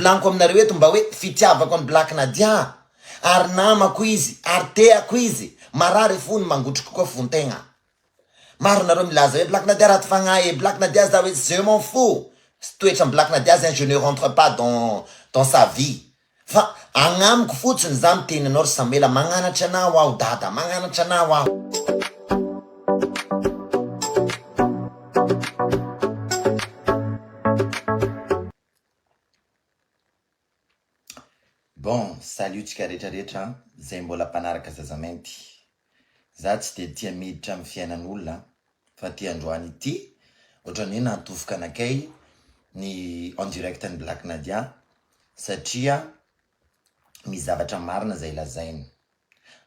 Laniko aminareo eto mba hoe fitiavako an'i Black Nadia ary namako izy ary teako izy, marary fo ny mangotriko koa fontegna. Maro nareo milaza hoe Black Nadia ratsy fagnahy e, Black Nadia za hoe je m'en fous sy toetran'i Black Nadia zegny je ne rentre pas dans dans sa vie fa agnamiko fotsiny za miteny anao ry Samuela magnanatra anao aho dada magnanatra anao aho. Bon, salut tsika rehetra rehetra an, zay mbola mpanaraka Zazamainty. Za tsy dia tia miditra amin'ny fiainan'olona an, fa ity androany ity ohatran'ny hoe nahatofoka anakay ny en direct an'i Black Nadia satria misy zavatra marina zay lazainy.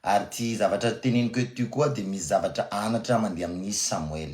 Ary ity zavatra teneniko eto ity koa dia misy zavatra anatra mandeha amin'i Samoel.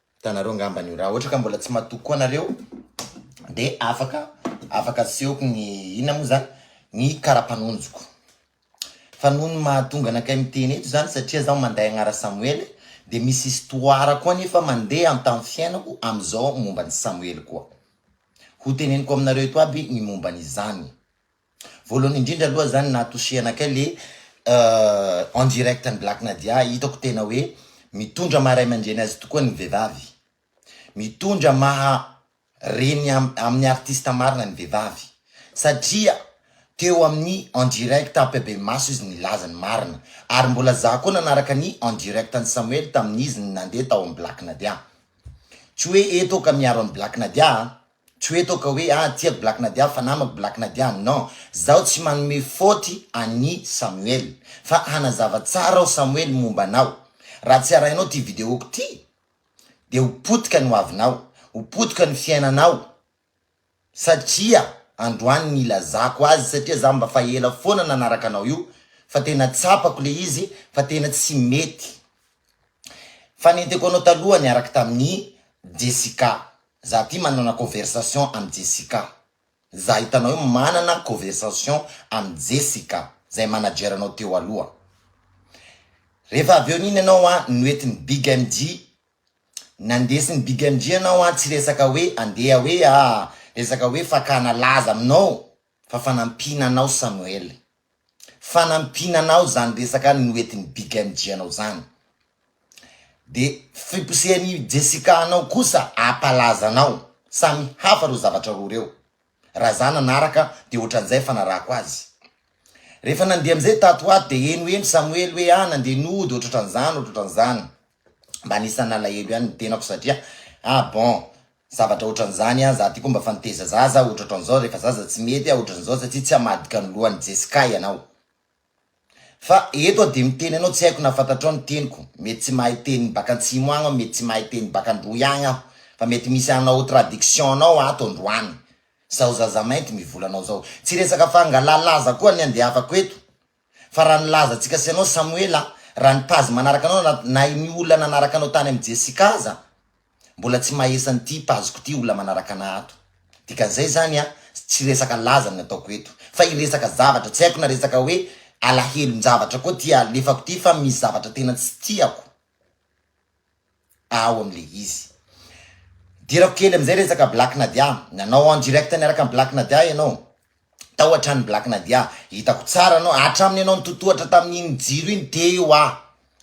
Hitanareo angambany io, raha ohatra ka mbola tsy matoky koa nareo dia afaka afaka asehoko ny inona moa zany ny karapanonjiko. Fa noho ny mahatonga anakay miteny eto zany satria zaho manday agnara Samoele dia misy histoire koa nefa mandeha antamin'ny fiainako amin'izao momba an'i Samoele koa. Hoteneniko aminareo eto aby ny momba an'izany. Voalohany indrindra aloha zany nahatosihana kay le en direct an'i Black Nadia, hitako tena hoe mitondra maha ray aman-dreny azy tokoa ny vehivavy, mitondra maha reny amin'ny artista marina ny vehivavy satria teo amin'ny en direct am-pehibemaso izy nilaza ny marina ary mbola za koa nanaraka ny en direct an'i Samuel tamin'izy nandeha tao amin'ny Black Nadia, tsy hoe eto aho ka miaro an'i Black Nadia a! Tsy hoe toa ka hoe ah tiako Black Nadia fa namako Black Nadia non, zaho tsy manome faute an'i Samuel fa hanazava tsara aho Samuel momba anao, raha tsy arahinao ty videoko ty dia ho potika ny hoavinao, ho potika ny fiainanao satria androany nilazako azy satria za mba fa ela foana nanaraka anao io fa tena tsapako le izy fa tena tsy mety fa nenteko anao taloha niaraka tamin'i Jessica Za ty manana conversation am Jessica za hitanao eo manana conversation am Jessica zay manager anao teo aloha refa avy eo nino ianao an noetiny big MJ nandesiny big MJ ianao an tsy resaka hoe andeha hoe ah resaka hoe fakana laza aminao Fa fanampiana anao Samuel. Fanampiana anao zany resaka noetiny Big MJ anao zany. De fiposehan'i Jessica anao kosa apalaza anao. Samy hafa reo zavatra roa reo. Ra za nanaraka de otran'zay fanarahako azy. Refa nandeha am'zay tato ho ato de henoheno Samuel hoe ah nandeha nody ohatrotran'zany ohatrotran'zany. Mba anisan'ny nalahelo ihany ny tenako satria ah bon zavatra otran'izany ah za ty koa mba fa niteza zaza ah otraotran'izao rehefa zaza tsy mety ah otran'izao satsia tsy hamadika ny lohan'i Jesca ianao fa eto ah de miteny anao tsy haiko na fantatrao ny teniko mety tsy mahay teny baka antsimo agny aho mety tsy mahay teny baka androy agny aho fa mety misy anao tradiction anao ato androany zaho zazamainty mivola anao zao tsy resaka fangalalaza koa ny andehafako eto Fa raha nilaza antsika sy ianao Samoela, raha ny page manaraka anao na na ny olona nanaraka anao tany amin'i Jessica aza mbola tsy mahaesa an'ity page-ko ity olona manaraka anà ato. Dikan'izay izany an, tsy resaka laza ny ataoko eto. Fa hiresaka zavatra, tsy haiko na resaka hoe alahelon-javatra koa ity alefako ity fa misy zavatra tena tsy tiako. ao amin'ilay izy. Hidirako kely amin'izay resaka Black Nadia, nanao en direct niaraka amin'i Black Nadia ianao, tao an-tranon'i Black Nadia, hitako tsara anao, hatramin'ny ianao nitotohatra tamin'iny jiro iny, teo aho,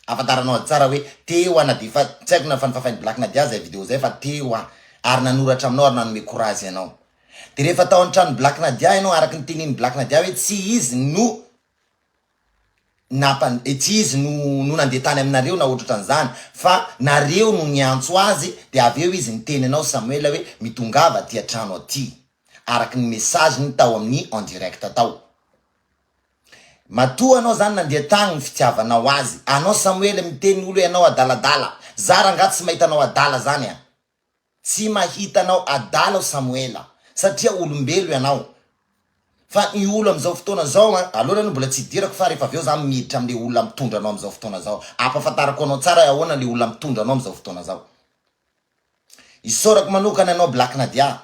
ahafantaranao azy tsara hoe teo aho na dia efa tsy haiko na efa nofafain'i Black Nadia aza izay video izay fa teo aho, ary nanoratra aminao ary nanome courage anao. Dia rehefa tao an-tranon'i Black Nadia ianao, araka ny tenenin'i Black Nadia hoe tsy izy no. nampan tsy izy no no nandeha tany aminareo na otratran'izany fa nareo no niantso azy dia avy eo izy niteny anao Samuel hoe mitongava aty an-trano aty araka ny message-ny tao amin'ny en direct tao matoa anao zany nandeha tagny ny fitiavanao azy anao Samuel miteny olo hoe anao adaladala za rangah tsy mahita anao adala zany an Tsy mahita anao adala aho Samoela satria olombelo ianao fa ny olo amin'izao fotoana izao an, aloany aloha mbola tsy hidirako fa rehefa avy eo za miditra amin'le olona mitondra anao amin'izao fotoana izao ampafantarako anao tsara hoe ahoana le olona mitondra anao amin'izao fotoana izao. Isaorako manokana anao Black Nadia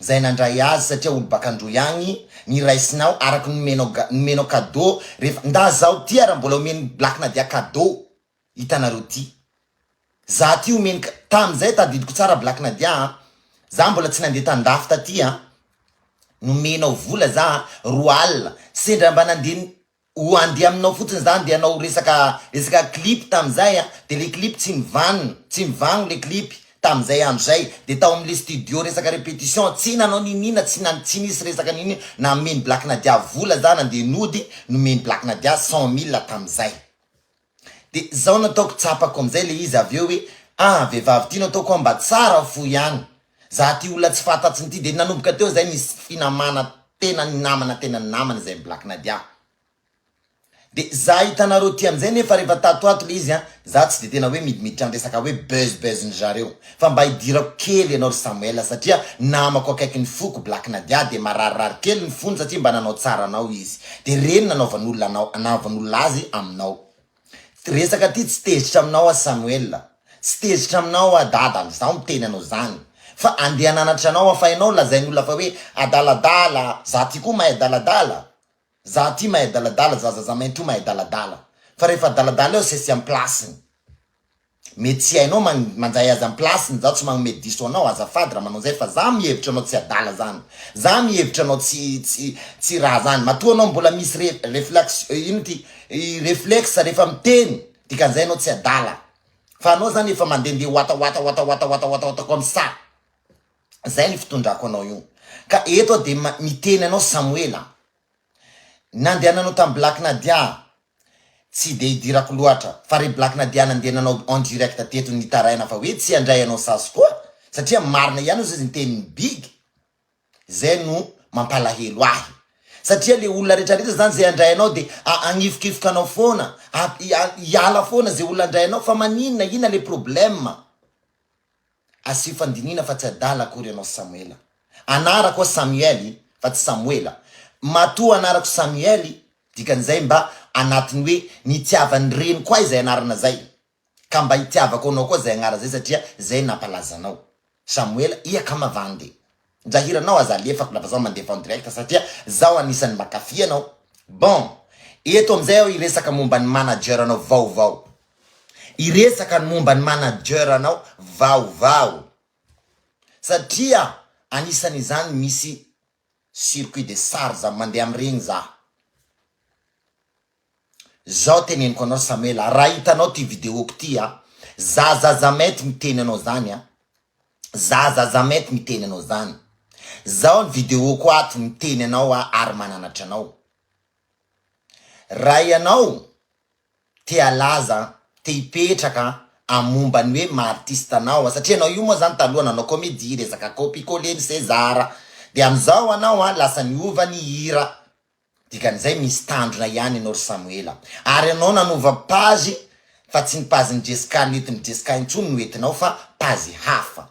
zay nandray azy satria olo baka Androy agny ny raisinao araka ny nomenao nomenao cadeau rehefa ndà zaho ty ara mbola omen'i Black Nadia cadeau Hitanareo ty. Za ty omeny ka. Tam zay tadidiko tsara Black Nadia a. Za mbola tsy nandeha tandafy taty a. Nomenao vola za roa alina. Sendra mba nandeha ho andeha aminao fotsiny za ndeha hanao resaka resaka clip tam zay a. De le clip tsy nivanona. Tsy mivagno le clip. Tam zay andro zay. De tao amle studio resaka repetition. Tsy nanao niniana tsy na tsy nisy resaka nini nameny Black Nadia vola za nandeha nody nomeny Black Nadia cent mille tam zay. De zao no ataoko tsapako amzay le izy avy eo hoe ah vehivavy ty no ataoko an mba tsara fo ihany za ty olona tsy fatatsiny ty de nanomboka teo zay nisy finamana tena ny namana tena ny namana izay black nadia de za hitanareo ty amzay nefa refa tato ho ato le izy an za tsy de tena hoe midimiditra ny resaka hoe buzz buzz ndry zareo Fa mba idirako kely ianao ry Samuel satria namako akaikin'ny foko Black Nadia dia mararirary kely ny fony satria mba nanao tsara anao izy dia reny nanaovan'olona anao nanaovan'olona azy aminao resaka ty tsy tezitra aminao aho Samuel tsy tezitra aminao aho dada izaho miteny anao zany fa andeha hananatra anao aho fa ianao lazain'olona fa hoe adaladala za ty koa mahay adaladala Za aty mahay adaladala zaza za maintro mahay adaladala fa rehefa adaladala eo sesy am plasiny mety tsy hainao man manjay azy am plasiny za tsy magnomey diso anao azafady ra manao zay fa za mihevitra anao tsy adala zany za mihevitra anao tsy tsy tsy ra zany matoa anao mbola misy re reflax ino ty i reflex rehefa miteny dikanzay anao tsy adala fa anao zany efa mandende wata wata wata wata wata wata wata koa am sa Zay ny fitondrako anao io. Ka eto aho dia miteny anao Samoela a. Nandehananao tamin'i Black Nadia a. Tsy dia idirako loatra, fa ry Black Nadia nandehananao en direct teto nitaraina fa hoe tsy handray anao sasy koa, satria marina ihany ozy ny tenin'i Big. Zay no mampalahelo ahy. Satria le olona rehetra rehetra zany zay handray anao dia hagnifokifoka anao foana, hiala foana ze olona handray anao, fa maninona, inona le problème? Asio fandinihina fa tsy adala akory ianao Samoela. Anarako aho Samuel fa tsy Samoela. Matoa anarako Samuel, dikan'izay mba anatin'ny hoe nitiavan'ny reniko ahy izay anarana izay. Ka mba itiavako anao koa izay agnara izay satria izay nampalaza anao. Samoela, ia ka mavande. Ndra hiranao aza alefako na fa zaho mandefa en direct satria zaho anisan'ny makafy anao. Bon, eto amin'izay aho hiresaka momba ny manager anao vaovao. Hiresaka ny momba ny manager anao vaovao. Satria anisan'izany misy circuit de charge, mandeha amin'iregny za. Zao teneniko anao Samela raha hitanao ty videoko ty a, za Zazamety miteny anao zany a, za Zazamety miteny anao zany, zao ny videoko ato miteny anao aho ary mananatra anao, raha ianao te halaza, te hipetraka a momba ny hoe maha artiste anao a, satria ianao io moa zany taloha nanao comedie, resaka copie coller ny sezara, de amizao anao a lasa niova ny hira, Dikan'izay misy tandrona ihany ianao ry Samoela. Ary ianao nanova page fa tsy ny page n'i Jesca nentin'i Jesca intsony no entinao fa page hafa.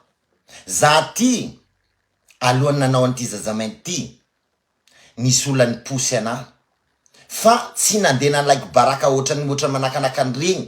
Za ty alohan'ny nanao an'ity zazamainty ity nisy olona niposy anah fa tsy nandeha na like baraka ohatran'ny ohatran'ny manakanaka an'ireny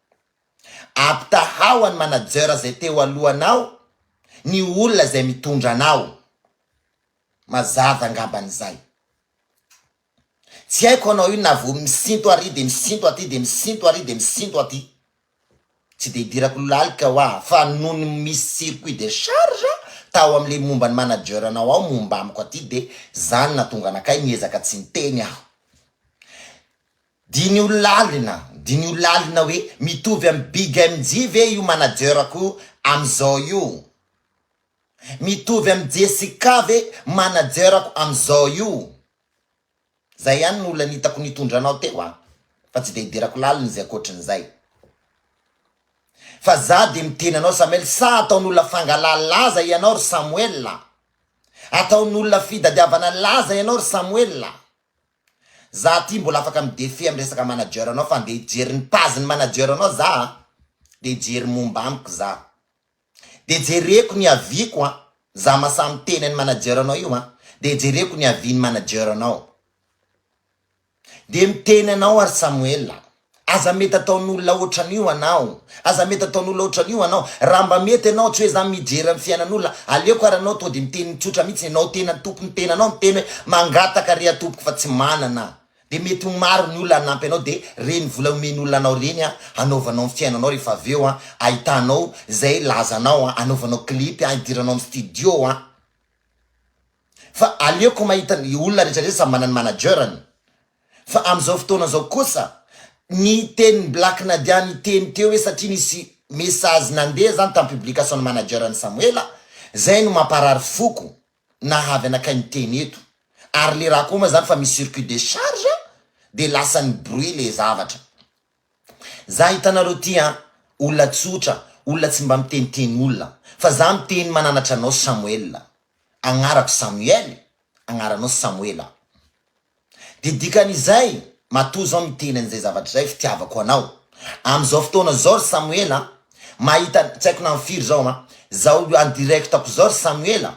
Ampitahao an'i manager izay teo alohanao ny olona izay mitondra anao. Mazava angambany izay. Tsy haiko hanao inona vao misinto ary dia misinto aty dia misinto ary dia misinto aty. Tsy dia idirako lalika hoa fa nony misy circuit de charge tao amin'ilay momba ny manager-nao ao momba amiko aty dia izany natonga anakay niezaka tsy niteny aho. Diniho lalina, diniho lalina hoe mitovy amin'i Big MJ ve io manager-ko amin'izao io? Mitovy amin'i Jessica ve manager-ko amin'izao io? Zay ihany no olona nitako nitondra anao teo an! Fa tsy dia hidirako lalina izay ankoatrin'izay. Fa za dia miteny anao Samuel, sa ataon'olona fangalaha laza ianao ry Samuel? Ataon'olona fidadiavana laza ianao ry Samuel? Za aty mbola afaka midefy am resaka manager nao fa nde hijery ny page ny manager nao za a! de hijery momba amiko za de jereko ny avis ko a! za masaha miteny any manager nao io a! de jereko ny avis ny manager nao de miteny anao ary Samuel a! Aza mety ataon'olona ohatran'io anao. Aza mety ataon'olona ohatran'io anao. Raha mba mety ianao, tsy hoe za mijery ny fiainan'olona, aleoko ary anao tonga dia miteny tsotra mihitsy, ianao tena tompon'ny tenanao miteny hoe mangataka re atompoko fa tsy manana. Dia mety ho maro ny olona hanampy anao, dia reny vola omen'olona anao reny hanaovanao ny fiainanao rehefa avy eo ahitanao izay lazanao, anaovanao clip, hidiranao amin'ny studio. Fa aleoko mahita ny olona rehetra rehetra samy manana ny manager-ny. Fa amin'izao fotoana izao kosa, ny tenin'i Black Nadia niteny teo hoe satria nisy message nandeha izany tamin'ny publication-n'ny manager-n'i Samoela, izay no mamparary foko, na havy anakay miteny eto. Ary le raha koa moa izany fa misy circuit de charge dia lasan'ny bruit le zavatra. Za hitanareo ty an, olona tsotra, olona tsy mba miteniteny olona. Fa za miteny mananatra anao Samoela. Agnarako Samuel, agnaranao Samoela. Dia dikan'izay, matoa izao miteny an'izay zavatra izay, fitiavako anao. Amin'izao fotoana izao ry Samoela a, mahita, tsy haiko na am'firy izao an, izao en direct-ko izao ry Samoela,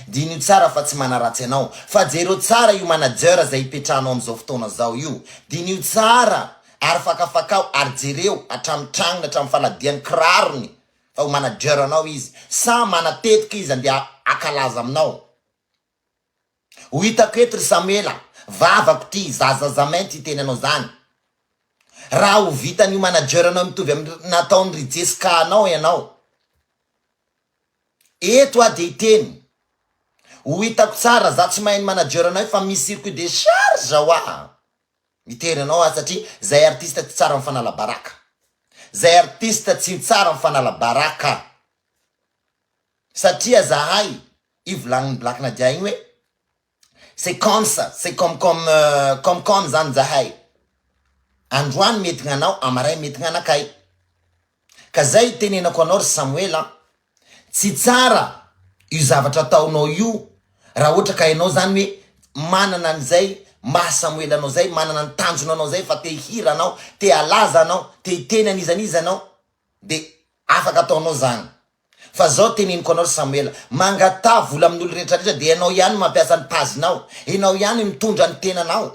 diniho tsara fa tsy manaratsy anao, fa jereo tsara io manager izay ipetrahanao amin'izao fotoana izao io, diniho tsara ary fakafakao ary jereo hatramin'ny tragnony hatramin'ny fanadihan'ny kirarony fa ho manager-nao izy, sa manatetika izy andeha hankalaza aminao. Ho hitako eto ry Samuela, vavako ty, za zaza mainty hiteny anao zany. Raha ho vitan'io manager anao mitovy amin'ny nataon'i ry Jesca anao ianao. Eto aho dia hiteny. Ho hitako tsara, za tsy mahay ny manager anay fa misy circuit de charge ho ahy mitery anao aho satria zay artiste tsy tsara mifanala baraka. Zay artiste tsy tsara mifanala baraka. Satria zahay io volanin'i Black Nadia igny hoe c'est comme ça, c'est comme comme comme comme zany zahay, androany mety gnanao amaray mety gnanakay, ka zay itenenako anao ry Samoela an, tsy tsara io zavatra ataonao io raha ohatra ka enao zany hoe manana an'izay maha Samoela anao zay, manana ny tanjona anao zay fa te hihira anao, te halaza anao, te hiteny an'iza n'iza anao, Dia afaka ataonao izany. Fa izao teneniko anao ry Samoela, mangataha vola amin'olo rehetra rehetra dia ianao ihany mampiasa ny page-nao, ianao ihany mitondra ny tenanao.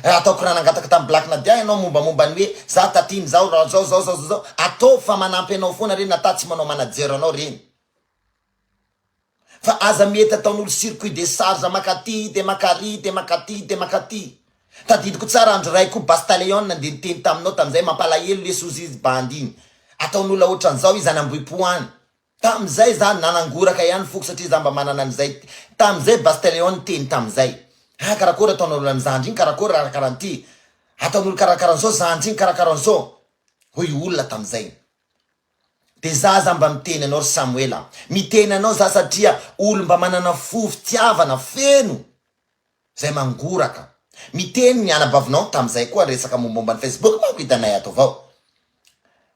Raha ataoko raha nangataka tamin'i Black Nadia ianao mombamomba ny hoe za taty ny zao, zao, zao, zao, zao, ataovy fa manampy anao foana ireny na tatsy manao manager anao ireny. Fa aza mety ataon'olo circuit de charge maka aty de maka ary de maka aty de maka aty. Tadidiko tsara andro iray koa Bastaleon nandeha niteny taminao tamin'izay mampalahelo lesy ozy izy bandy iny. Ataon'olo aotran'izao izy any Ambohipo any. Tamin'izay za nanangoraka ihany foko satria za mba manana an'izay tamin'izay Bastaleon niteny tamin'izay. Ah karakory ataon'olo an'i zandry iny karakory raha karaha an'ity. Ataon'olo karakara an'izao zandry iny karakara an'izao. Hoy olona tamin'izay. De za za mba miteny anao ry Samoela a! Miteny anao za satria olo mba manana fo fitiavana feno zay mangoraka. Miteny ny anabavinao tamzay koa resaka mombomba ny Facebook manko hitanay ato avao.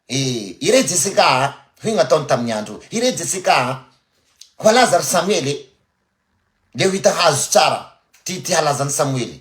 Eh! Ire Jessica a! Hoy ny ataony tamin'ny andro Ire Jessica a! Hoalaza ry Samuel e! Leo hita hazo tsara ty ty halazan'i Samoela e!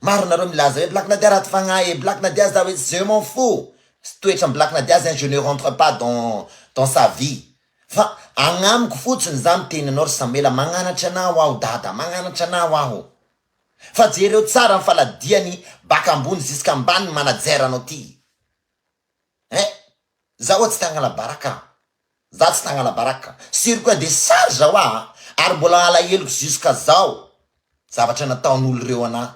Maro nareo milaza hoe Black Nadia ratsy fagnahy e, Black Nadia za hoe je m'en fous sy toetran'i Black Nadia zegny je ne rentre pas dans dans sa vie fa agnamiko fotsiny za miteny anao ry Samuela magnanatra anao aho dada magnanatra anao aho fa jereo tsara ny faladiany baka ambony zisk'ambany ny manajeranao ty eh! za oa tsy tagnalabaraka Za tsy nagnala baraka, sur quoi de charge hoa a! ary mbola alaheloko jusqu'à zao zavatra nataon'olo reo anà,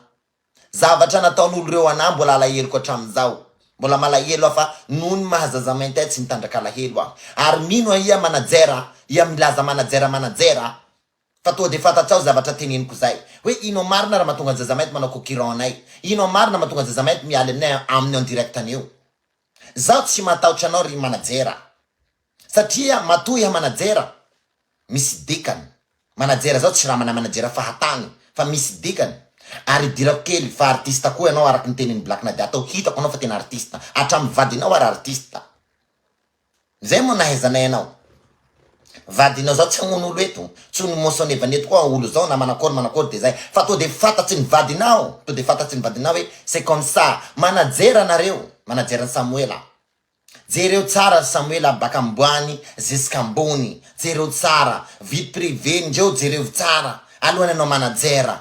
zavatra nataon'olo reo anà mbola alaheloko hatramin'izao, mbola malahelo aho fa noho ny maha zaza mainty ahy tsy mitandraka alahelo aho, ary mino aho iha manager, iha milaza manager manager, fa toa de fantatsao zavatra teneniko zay, hoe ino marina raha matonga ny zaza mainty manao cocurant anay, ino marina matonga ny zaza mainty mialy aminay amin'ny en direct anio. Zaho tsy matahotra anao ry manajera satria matoa iha manajera misy dikany manajera zaho tsy ramana manajera fahatany fa misy dikany ary idirako kely fa artiste koa ianao araky ny tenin'i black nadia tao hitako anao fa tena artiste hatramin'ny vadinao ary artiste Zay moa nahaizanay anao. Vadinao zao tsy hamono olo eto, tsy ho ny mosonevan eto koa olo zao na manakory manakory de zay fa to de fantatry ny vadinao to de fantatry ny vadinao hoe c'est comme ça manajera nareo manajera ny samoela jereo tsara ry samoela baka amboany ziska ambony jereo tsara vie privee ndreo jerevo tsara alohany anao manajera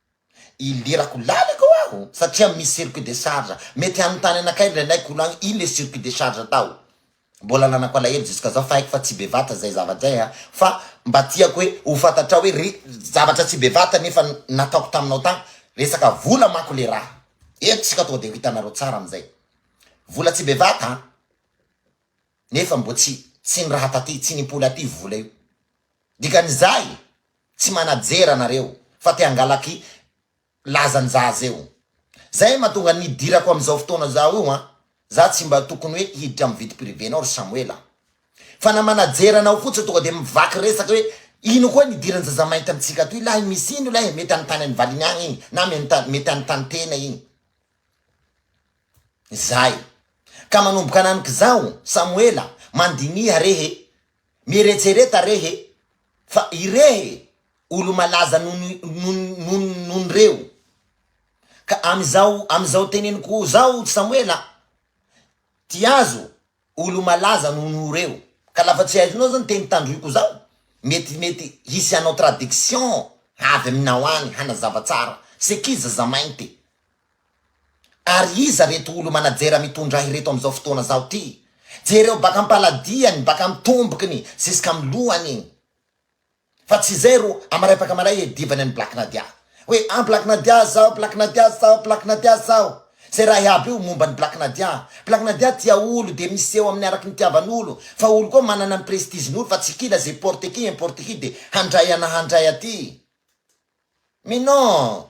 Ilirako lalaka ho aho satria misy circuit de charge, mety hanontany anakay ny renay kolo agny ino le circuit de charge tao? Mbola ananako alahelo jusqu'à zao fa haiko fa tsy be vata zay zavatra zay an! Fa mba tiako hoe ho fantatrao hoe ry zavatra tsy be vata nefa nataoko taminao tagny, resaka vola manko le raha! Eto tsika tonga de ho hitanareo tsara amizay! Vola tsy be vata an! Nefa mbo tsy tsy ny raha taty, tsy ny mpoly aty vola io! Dikanizay! Tsy manajer anareo fa te hangalaky lazan zah zeo zay matonga ny hidirako am zao fotoana zao io an! Zah tsy mba tokony hoe hiditra am vide prive nao ry Samoela a! Fa na manajer anao fotsiny tonga de mivaky resaka hoe ino koa ny idiran zazamainty am tsika atoy lahy misy ino lahy e! Mety any tany any valiny agny igny na mety any tany tena igny zay ka manomboka anamiko zaho Samoela mandiniha rehe Mieretsereta rehe fa irehe olo malaza nonon reo ka am zao am zao teneniko zao tsy samoela a! Ty azo olo malaza nono reo ka lafa tsy aizonao zao ny teny tandroiko zao mety mety hisy hanao traduction avy aminao any hanazava tsara c'est qui zazamainty? Ary iza reto olo manajera mitondra ahy reto amzao fotoana zao ty? Jereo baka ampaladiany baka am tombokiny ziskam lohany iny fa tsy zay ro amarepaka malay e divany any black nadia hoe an black nadia zao black nadia zao black nadia zao zay raha iaby io momba ny black nadia black nadia tia olo de miseho aminy araky ny tiavan olo fa olo koa manana ny prestige ny olo fa tsy kila ze porte qui importe qui de handray ana handray aty mais non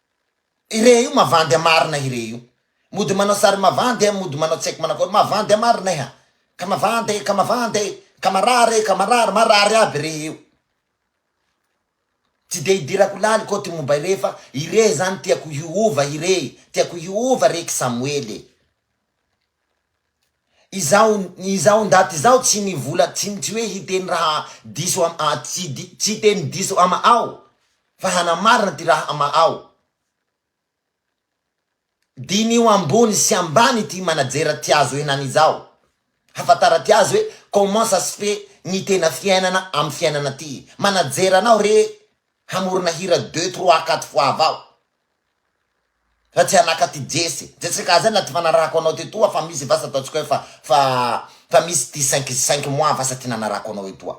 Irey io mavandy a marina irey io mody manao sary mavandy a mody manao tsy haiko manao akory mavandy a marina eh a ka mavandy e ka mavandy e ka marary e ka marary marary aby irey io tsy dia idirako laliko ty momba irey fa irey zany tiako hiova irey tiako hiova rey ksamoely e. Izaho izaho ndaty izaho tsy nivola tsy tsy hoe hiteny raha diso am a tsy di tsy hiteny diso ama'ao fa hanamarina ty raha ama'ao. Diniho ambony sy ambany ity manajera ty azo henany izao. Hafantara ty azy hoe comment ça se fait ny tena fiainana am fiainana ty manajera anao re hamorona hira deux trois quatre fois avao Fa tsy anaka ty Jesse. Jesse ka zay na tsy fanarahako anao tetoa fa misy vasa ataontsika hoe fa fa fa misy ty cinq cinq mois vasa ty nanarahako anao etoa.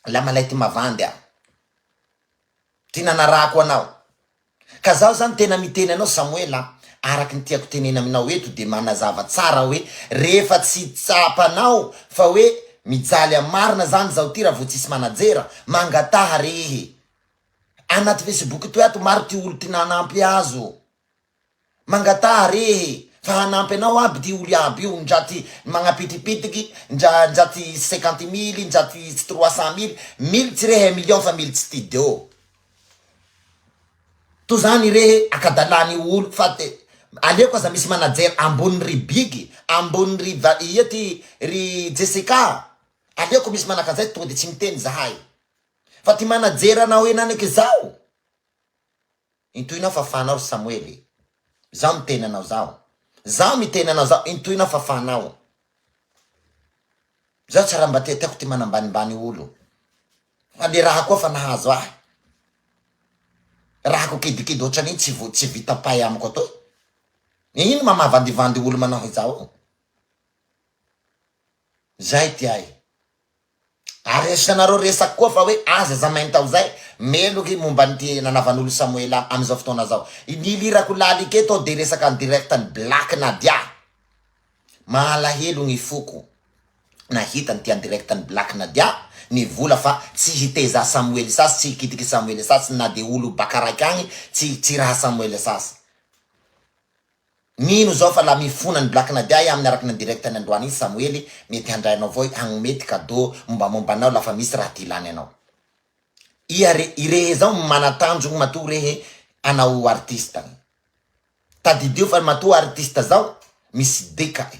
La malay ty mavandy a. Ty nanarahako anao. Ka zaho zany tena miteny anao Samoela a, araky ny tiako tenena aminao eto de manazava tsara hoe rehefa tsy tsapanao fa hoe mijaly am marina zany zaho ty raha vao tsisy manajera, mangataha rehe. Anaty Facebook toy ato maro ty olo tina hanampy azy ô. Mangataha rehe fa hanampy anao aby ty olo iaby io ndra ty magnapitripitiky ndra ndra ty cinquante mille ndra ty trois cent mille, mily tsy rehe un million fa mily tsy ty deo. To zany rehe akadala ny olo fa te aleoko aza misy manager ambony ry big ambony ry va ia ty ry Jessica aleoko misy manakazay tode tsy miteny zahay. Fa ty manager anao eny aniko izao intohinao fa fanao ry Samoel e! Zaho miteny anao zaho zaho miteny anao zaho intohinao fa fanao zaho tsy raha mba tiatiako ty manambanimbany olo fa le raha koa fa nahazo ahy rahako kidikidy ohatran'iny tsy vo tsy vita pay amiko atoy e ino ma mahavandivandy olo manao izao zay ty ahy Ary asianareo resaka koa fa hoe aza za mainta ho zay meloka i momba an'ity nanavan'olo Samoela amin'izao fotoana zao. Ny ilirako lalika eto dia resaka en direct an'i Black Nadia. Mahalahelo gny foko nahita an'ity en direct an'i Black Nadia ny vola fa tsy hitezà Samoela sasy, tsy hikitiky Samoela sasy na dia olo baka raiky agny tsy tsy raha Samoela sasy. Mino zao fa la mifona ny black nadia e aminy araka ny andirect any androany iny samoely mety handray anao vao hagnome ty cadeau mombamomba anao la fa misy raha ty ilany anao ia re irehe zao no manatanjogny matoa rehe anao artiste ny tadidio fa matoa artiste zao misy dika e.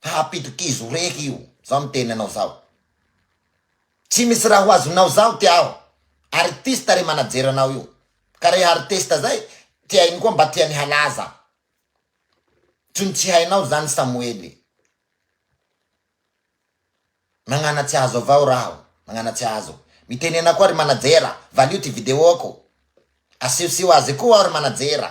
Hahampitokizo reky io zao miteny anao zao tsy misy raha ho azonao zaho ty aho artiste re manajeranao io ka reha artiste zay ty ainy koa mba tiany halaza tsony tsy hainao zany samoely magnana tsy azo avao raho magnana tsy azo miteny ana koa ry manajera valio ty video ko asio sio azy koa aho ry manajera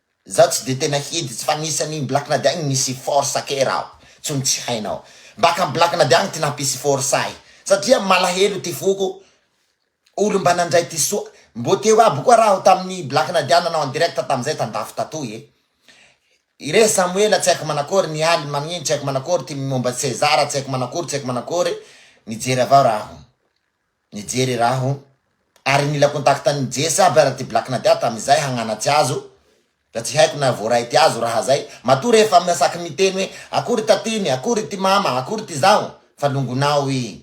Zaho tsy de tena hidy tsy fa nisy an'iny black nady agny nisy force kay raho tsony tsy hainao mbaka am black nady agny ty nampisy force ahy satria malahelo ty foko olo mba nandray ty soa mbo teo aby koa raho tamin'ny black nady aho nanao en direct tamizay tandafy tatoy e ire samoela tsy haiko manakory ny aly magnino tsy haiko manakory ty momba cesar tsy haiko manakory tsy haiko manakory nijery avao raho. Nijery raha aho ary nila contact an'i Jess aby ary ty Black Nadia tamin'izay hagnanatsy azo da tsy haiko na voaray ty azo raha zay matoa rehefa amin'ny saky miteny hoe akory tatiny, akory ty mama, akory ty zaho fa longonao i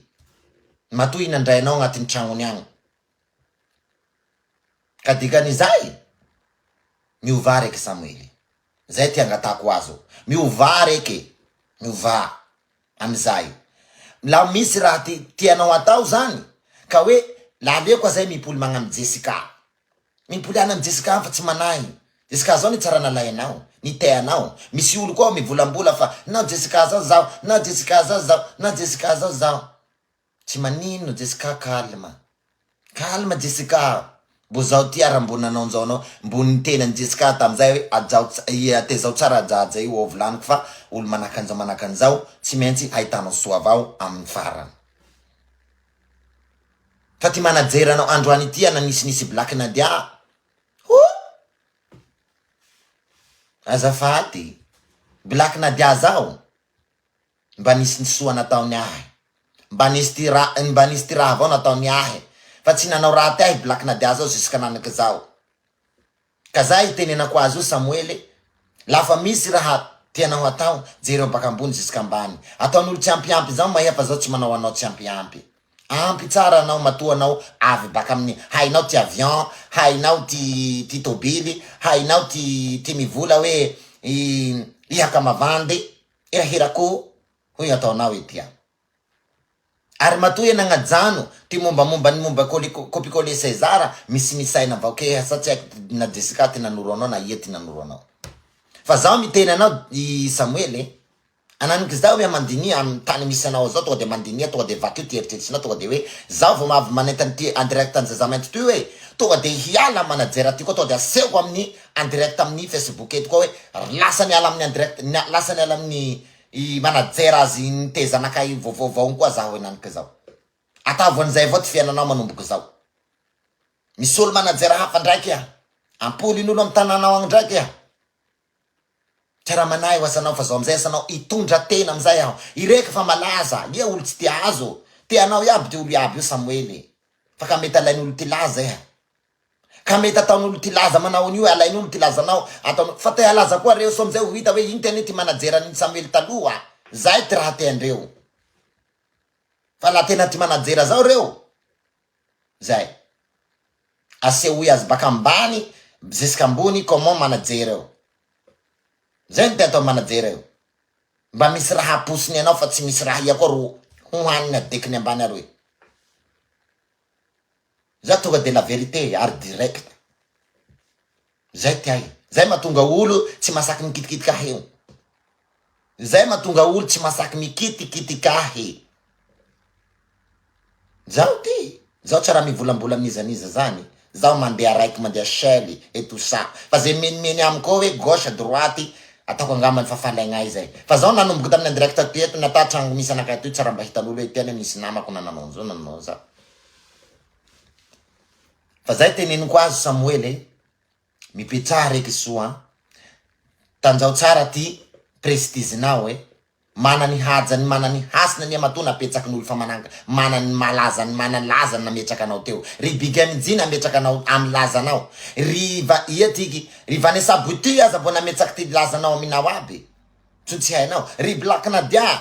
matoa i nandrainao agnatin'ny tragnony agny ka dikan'izay miovà reke Samoëly, zay ty angatahako azo, miovà reke, miovà. Amin'izay. Mla misy raha ti tianao atao zany ka hoe la aleo koa zay mipoly magna am Jessica. Mipoly agna am Jessica an fa tsy manahy. Jessica zao ny tsara nalainao, ny teanao. Misy olo koa mivolambola fa na Jessica zao zaho, na Jessica zao zaho, na Jessica zao zaho. Tsy maninona Jessica calme. Calme Jessica a! Mbo zao ty ara mbo nanaonzao anao, mbo nitenany Jessica tamzay hoe ajao tezao tsara ajaja io ao vilaniko fa olo manaka anzao manaka anzao tsy maintsy hahitanao soa avao aminy farany fa ty manajer anao androany ity ana nisy nisy black Nadia a! Hoo! Azafady! Black Nadia zaho! Mba nisy ny soa nataony ahy Mba nisy ty ra Mba nisy ty raha vao nataony ahy Fa tsy nanao raty ahy Black na dia azao Jusque nanaka izaho Ka za itenenako azy io Samoele La fa misy raha tianao hatao Jereo baka ambony jusque ambany Ataon'olo tsy ampy ampy Zaho mahefa zao tsy manao anao tsy ampy ampy Ampy tsara anao matoa anao avy baka amin'ny Hainao ty avion Hainao ty ty tobily Hainao ty ty mivola hoe i i hakamavandy Hirahira ko hoy ataonao ity an. Ary matoa iha nagnajano ty mombamomba ny momba kopikole César misimisy aina avao kee asa tsy haiko na Jessica ty nanoro anao na ia ty nanoro anao. Fa zaho miteny anao i Samuel e. Ananik'izao hoe mandinia am tany misy anao zao tonga de mandinia tonga de vakio ty eritreritrinao tonga de hoe zaho vao avy manentana ty en direct an'i Zaza mainty toy hoe tonga de hiala am manajera ty koa tonga de asehoko amin'ny en direct amin'ny facebook eto koa hoe ry lasa miala amin'ny en direct lasa miala amin'ny i manager azy nitezanaka i vaovaovaony koa zaho henaniko izao ataovy an'izay avao ty fiainanao manomboka izao misy olo manager hafa ndraiky a ampolin'olo amin'ny tanànao agny ndraiky a Mpiara-manahy ho asanao fa zao amizay asanao hitondra tena amizay aho. Ireka fa malaza, ie olo tsy te azo. Te anao iaby ty olo iaby io Samoely. Fa ka mety alain'olo ty laza iha. Ka mety ataon'olo ty laza manao an'io e, alain'olo ty lazanao ataon'olo fa te halaza koa reo sao amizay ho hita hoe iny tena ty manager an'iny Samuel taloha, zay ty raha tean-dreo. Fa la tena ty manager zao reo, zay. Asehoy azy baka ambany ziska ambony comment manager eo. Zay no te atao manager io. Mba misy raha aposiny anao fa tsy misy raha ia koa ro ho haniny adekiny ambany aroy. Za tonga de la vérité ary direct zay ty ahy zay matonga olo tsy masaky mikitikitika ahy io zay matonga olo tsy masaky mikitikitika ahy zaho ty zaho tsy raha mivolambola n'iza n'iza zany zaho mandeha raiky mandeha shell et tout ça fa zay menimeny amiko ao hoe gauche droite ataoko angambany fa falaigna ahy zay fa zaho nanomboka tamin'ny indirecte toy eto na ta tragno misy anakahy toy tsy raha mba hitan'olo hoe ity anie nisy namako na nanao an'izao na nanao an'izao Fa zay teneniko azy Samoela e, mipetraha reky soa an, tanjao tsara ty prestigenao e, mana ny hajany mana ny hasiny anie matoa napetsaky ny olo fa mana mana ny maha lazany mana lazany nametraka anao teo, ry big MJ nametraka anao amy lazanao, ry va ia tiky, ry Vanessa Bouty aza vao nametsaky ty lazanao aminao aby, tso tsy hainao, ry Black Nadia,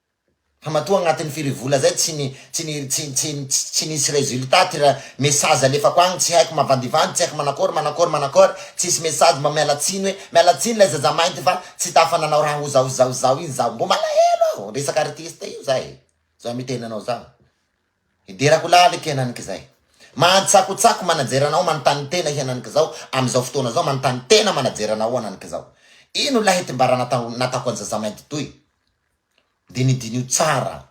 Fa matoa agnatin'ny firy vola zay tsy ni tsy ni tsy tsy tsy nisy résultat ty ra message alefako agny tsy haiko mavandivandy tsy haiko manakôry manakôry manakôry tsisy message mba miala tsiny hoe miala tsiny lay zaza mainty fa tsy tafa nanao raha ho zaho zaho zaho igny zaho mbô malahelo aho resaka artiste io za e zao miteny anao zaho hiderako laliky henaniky zay mantsakotsako manajer anao manontany tena henaniky zao amy zao fotoana zao manontany tena manajer anao henaniky zao ino lahy ty mba raha natao natako an'i zaza mainty toy Dia nidiniho tsara aho.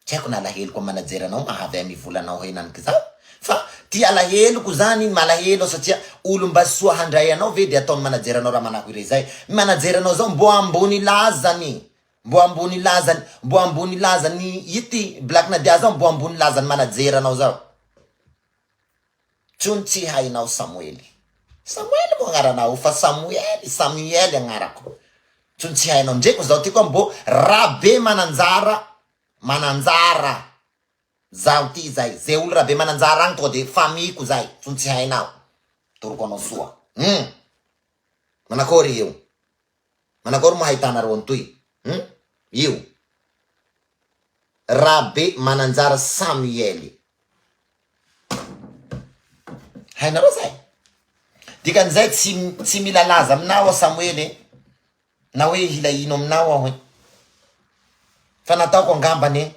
Tsy haiko ny alaheloko amin'ny manager anao mahavy ahy mivola anao henaniky izaho fa ity alaheloko izany iny malahelo aho satria olom-basy soa handray anao ve dia ataon'ny manager anao raha manako irey izay ny manager anao izao mbo ambony lazany mbo ambony lazany mbo ambony lazany ity black nadia izao mbo ambony lazany manager anao izao Jono tsy hainao Samoely. Samoely moa agnaranao fa Samoely, Samuel agnarako. Jono tsy hainao ndreko zaho ty koa mbô Rabe Mananjara Mananjara zaho ty zay ze olo Rabe Mananjara agny tonga de famille ko zay Jono tsy hainao toroko anao soa hum manakôry io. Manakory ma ahitanareo an'toy hum io Rabe Mananjara Samuel. Hainareo zay? Dikan'izay tsy tsy mila laza aminao aho Samuel e, na hoe hila ino aminao aho e. Fa nataoko angambany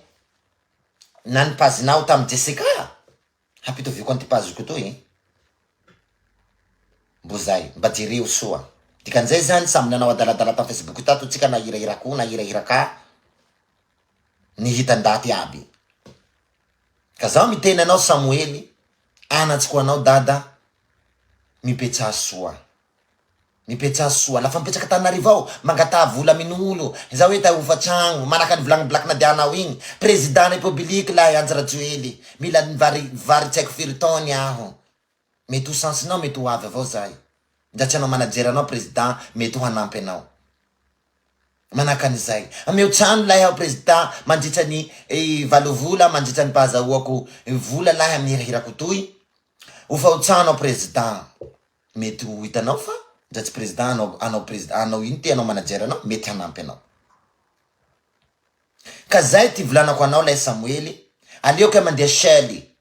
na ny page-nao tamin'i Jessica. Hampitoviako an'ity paziko itoy e. Mbo zay. Mba jereo soa. Dikan'izay zany samy nanao adaladala tam facebook tato tsika na hirahira akoho na hirahira ka ny hita ndaty aby. Ka zaho miteny anao Samoely anatsy ko anao dada mipetsaha soa. Mipetraha soa la fa mipetraka Antananarivo ao mangataha vola amin'olo za hoe ta hofa tragno manaka ny volagny black nadianao igny président république lahy Andry Rajoely mila ny vary vary tsy haiko firy taony aho mety ho chance nao mety ho avy avao zay ndra tsy anao manager anao président mety ho hanampy anao manaka an'izay ameo trano lahy aho président mandritra ny valo vola mandritra ny pahazahoako vola lahy am hirahirako toy hofa ho trano aho président. Mety ho hitanao fa ndra tsy président hanao hanao président hanao ino te hanao manager anao mety hanampy anao. Ka zay ity volanako anao lay Samoely aleo kay mandeha seul e!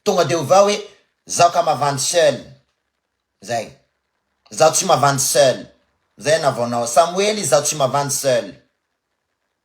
Tonga de ovao hoe zaho ka mavandy seul zay. Zaho tsy mavandy seul zay anavaonao Samoely zaho tsy mavandy seul.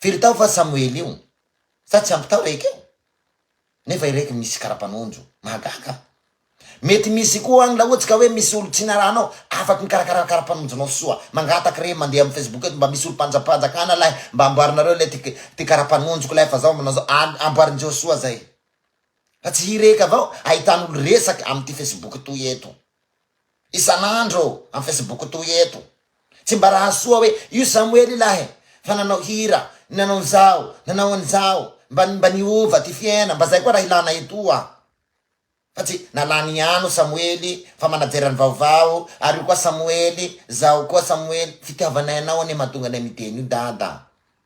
Firy tao va Samoela io? Sa tsy ampy tao raiky io? Nefa iraiky misy karapanondro. Mahagaga an! Mety misy koa any raha ohatsy ka hoe misy olo tsy narahanao afaky mikarakara karapanondronao soa. Mangataka re mandeha am Facebook eto mba misy olo mpanjapanjakana lay mba amboarinareo lay ty ty karapanondroko lay fa zao manao zao an amboarinjeo soa zay. Fa tsy hireky avao ahitanolo resaky am ty Facebook toy eto. isan'andro am Facebook toy eto. Tsy mba raha soa hoe io Samoel ilahy e, fa nanao hira, nanao an'izao, nanao an'izao, mba mba niova ty fiaina, mba zay koa raha ilana etoa. Fa tsy na lany ihany o Samoel fa manajera ny vaovao ary io koa Samoel, zao koa Samoel, fitiavanay anao anie mahatonga anay miteny io Dada.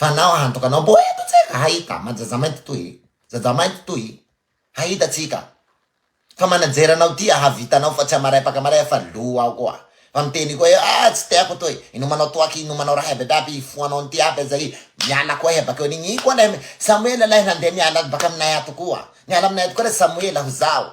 Fa anao antoka anao mbo eto tsika hahita ma jazamainty toy e jajamainty toy e hahita tsika fa manajer anao ty hahavita anao fa tsy hamaraipaka maray fa lo ao koa fa miteny koa eo ah tsy teako toy inomanao toaky inomanao raha aby aby hifohanao anty aby aza i miala koa iha bakeo an'igny i koa lay samoela lay nandeha niala baka aminay ato koa niala aminay ato koa lay samoela ho zaho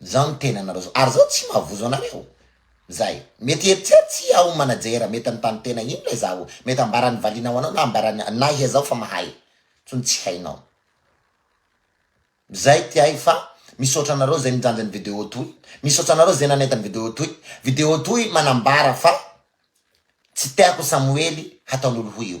Zao ny tenanareo zao, ary zao tsy mahavozo anareo zay, mety eritserit tsy aho manajer, mety anontany tena ino lay zaho, mety ambarany valiana ho anao na ambarany anah iha zao fa mahay tsony tsy hainao zay ty ahy fa misaotra anareo zay nijanja ny video toy, misaotra anareo zay nanaita ny video toy, video toy manambara fa tsy tiako samoely hataon'olo ho io.